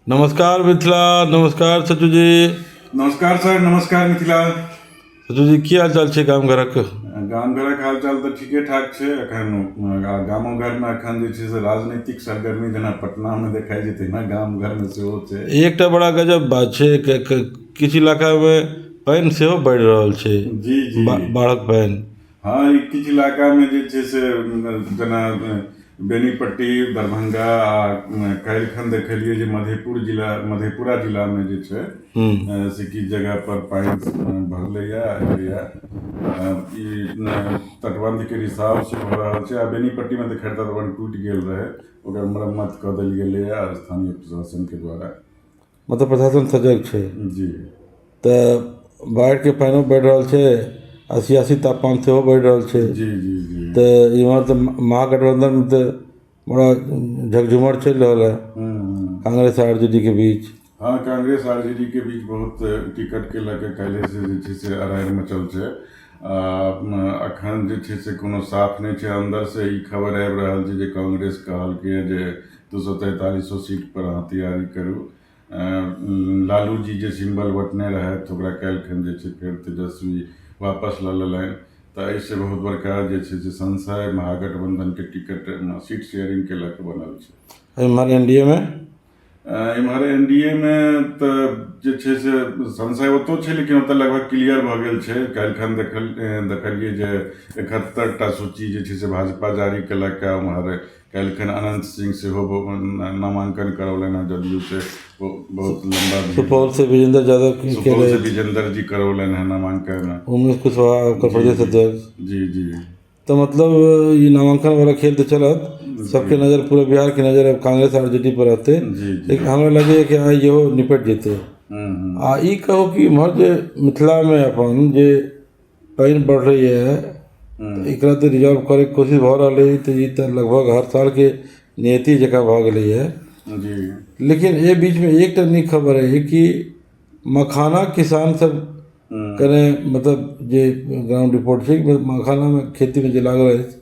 नमस्कार मिथिला नमस्कार सचू जी नमस्कार सर नमस्कार मिथिला सचू जी की हाल चाल छै गाम घरक गाम घरक हाल चाल तऽ ठीके ठाक छै एखन गामो घरमे एखन जे छै से राजनीतिक सरगर्मी जेना पटनामे देखाइ छै तहिना गाम घरमे सेहो छै एकटा बड़ा गजब बात छै किछु इलाकामे पानि सेहो बढ़ि रहल छै जी जी बाढ़क पानि हँ ई किछु इलाकामे जे छै से जेना बेनीपट्टी दरभंगा आ काल्हि खन देखलियै जे मधेपुर जिला मधेपुरा जिलामे जे छै से किछु जगह पर पानि भरलैया एलैया ई तटबंधके रिसाव सेहो भऽ रहल छै आ बेनीपट्टीमे तऽ खैर तटबंध टूटि गेल रहै ओकर मरम्मत कऽ देल गेलैया स्थानीय प्रशासनके द्वारा मतलब प्रशासन सजग छै जी तऽ बाढ़िके पानिओ बढ़ि रहल छै आओर सियासी तापमान सेहो बढ़ि रहल छै जी जी जी तऽ एमहर तऽ महागठबन्धन तऽ बड़ा झकझोमर चलि रहल हइ हूँ हूँ काँग्रेस आओर आर जे डी के बीच हँ कांग्रेस आर जे डी के बीच बहुत टिकटके लऽ कऽ काल्हिसँ जे छै से अड़ाइ मचल छै आ एखन जे छै से कोनो साफ नहि छै अन्दरसँ ई खबर आबि रहल छै जे कांग्रेस कहलकैए जे दू सए तैंतालिस सए सीट पर अहाँ तैयारी करू लालू जी जे सिम्बल बटने रहथि ओकरा काल्हिखन जे छै फेर तेजस्वी वापस लऽ लेलनि तऽ एहिसँ बहुत बड़का जे छै से संशय महागठबंधनके टिकट सीट शेयरिंग के लऽ कऽ बनल छै एम्हर एन डी ए मे एम्हर एन डी ए मे तऽ जे छै से संशय ओतौ छै लेकिन ओतऽ लगभग क्लियर भऽ गेल छै काल्हिखन देखल देखलियै जे एकहत्तरि टा सूची जे छै से भाजपा जारी केलक उम्हर काल्हिखन अनन्त सिंह सेहो नामाङ्कन करौलनि हँ जदयू से ओ बहुत लम्बा सुपौल से विजेंद्र यादव की सुपौल से केलथि विजेंदर जी करौलनि हँ नामाङ्कन उमेश कुशवाहा उत्तर प्रदेश अध्यक्ष जी जी तो मतलब ये नामांकन वाला खेल तो चलत सबके नज़र पूरे बिहार की नज़र अब कांग्रेस और जेडी पर रहते जी जी लेकिन हमरा लगे कि हाँ इहो निपट जेतै हम्म, हम्म, आ ई कहू कि इम्हर जे मिथिलामे अपन जे पानि बढ़लैए एकरा तऽ रिजॉल्व करैके कोशिश भऽ रहलै हइ तऽ ई तऽ लगभग हर सालके नियति जकाँ भऽ गेलैए लेकिन एहि बीचमे एकटा नीक खबर हइ कि मखाना किसान सब कने मतलब जे ग्राउण्ड रिपोर्ट छै मखानामे खेतीमे जे लागल अछि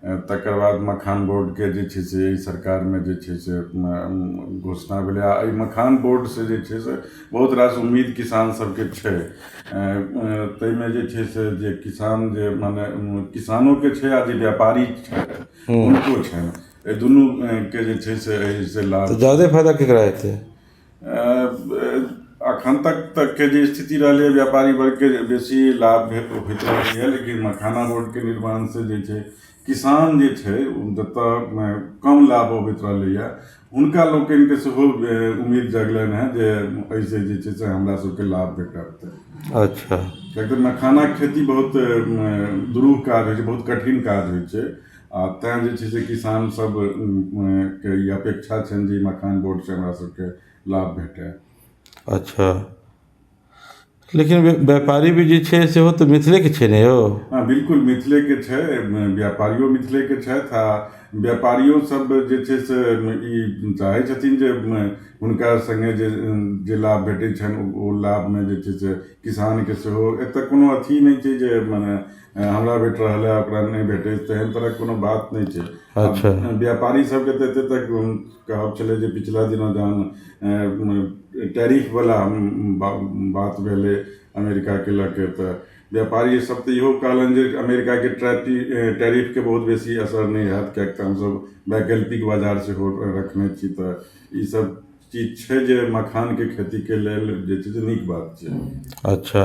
तकर बाद मखान बोर्डके जे छै से एहि सरकारमे जे छै से घोषणा भेलै आ एहि मखान बोर्ड से जे छै से बहुत रास उम्मीद किसान सबके छै ताहिमे जे छै से जे किसान जे मने किसानोके छै आ जे व्यापारी छथि हुनको छनि एहि दुनूके जे छै से एहिसँ लाभ जादे फायदा केकरा हेतै एखन तक तकके जे स्थिति रहलैए व्यापारी वर्गके जे बेसी लाभ भेल ओ होइत रहलैए लेकिन मखाना रोडके निर्माणसँ जे छै किसान जे छै ओ जतय कम लाभ अबैत रहलैए हुनका लोकनिकेँ सेहो उम्मीद जगलनि हेँ जे एहिसँ जे छै से हमरासभकेँ लाभ भेटत अच्छा किएक तऽ मखानाके खेती बहुत दुरूह काज होइ छै बहुत कठिन काज होइ छै आ तैँ जे छै से किसान सब के ई अपेक्षा छनि जे मखान बोर्ड सऽ हमरा सबके लाभ भेटै अच्छा लेकिन व्यापारी भी जे छै सेहो तऽ मिथिले के छै ने यौ हँ बिल्कुल मिथिले के छै व्यापारियो मिथिले के छथि आ व्यापारियो सब जे छै से ई चाहै छथिन जे हुनका संगे जे जे लाभ भेटै छनि ओ लाभ मे जे छै से किसान के सेहो एतऽ कोनो अथी नहि छै जे मने हमरा भेट रहल हँ ओकरा नहि भेटै तेहन तरहक कोनो बात नहि छै अच्छा व्यापारी सबके तऽ एते तक कहब छलै जे पिछला दिना जहन टैरिफ बला बात भेलै अमेरिका के लऽ के तऽ व्यापारी सब तऽ इहो कहलनि जे अमेरिका के टैरिफ के बहुत बेसी असर नहि होयत किएक तऽ हमसब वैकल्पिक बाजार सेहो रखने छी तऽ ई सब चीज छै जे मखान के खेती के लेल जे छै से नीक बात छै अच्छा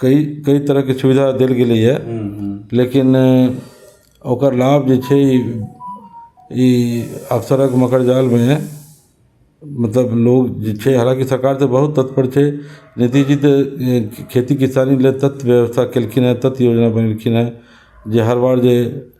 कइ कइ तरहके सुविधा देल गेलैए लेकिन ओकर लाभ जे छै ई अक्सरक मकर जालमे मतलब लोक जे छै हालाँकि सरकार तऽ बहुत तत्पर छै नीतीश जी तऽ खेती किसानी लेल तत व्यवस्था केलखिन हेँ तत योजना बनेलखिन हेँ जे हर बार जे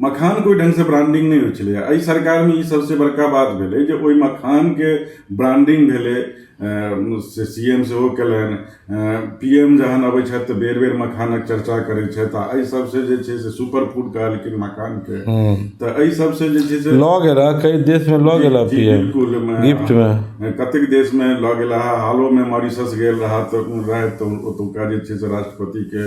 मखानके ओहि ढङ्गसँ ब्रांडिंग नहि होइ छलैए एहि सरकारमे ई सभसँ बड़का बात भेलै जे ओहि मखानके ब्रांडिंग भेलै से सी एम सेहो कयलनि पी एम जखन अबै छथि तऽ बेर बेर मखानक चर्चा करै छथि आ एहि सभसँ जे छै से सुपर फूड कहलखिन मखानके तऽ एहि सभसँ जे छै से लऽ गेला कई देशमे लऽ गेला जी पी एम बिल्कुल मे- गिफ्टमे कतेक देशमे लऽ गेला हालोमे मॉरिशस गेल रहा तऽ रहथि तऽ ओतुका जे छै से राष्ट्रपतिके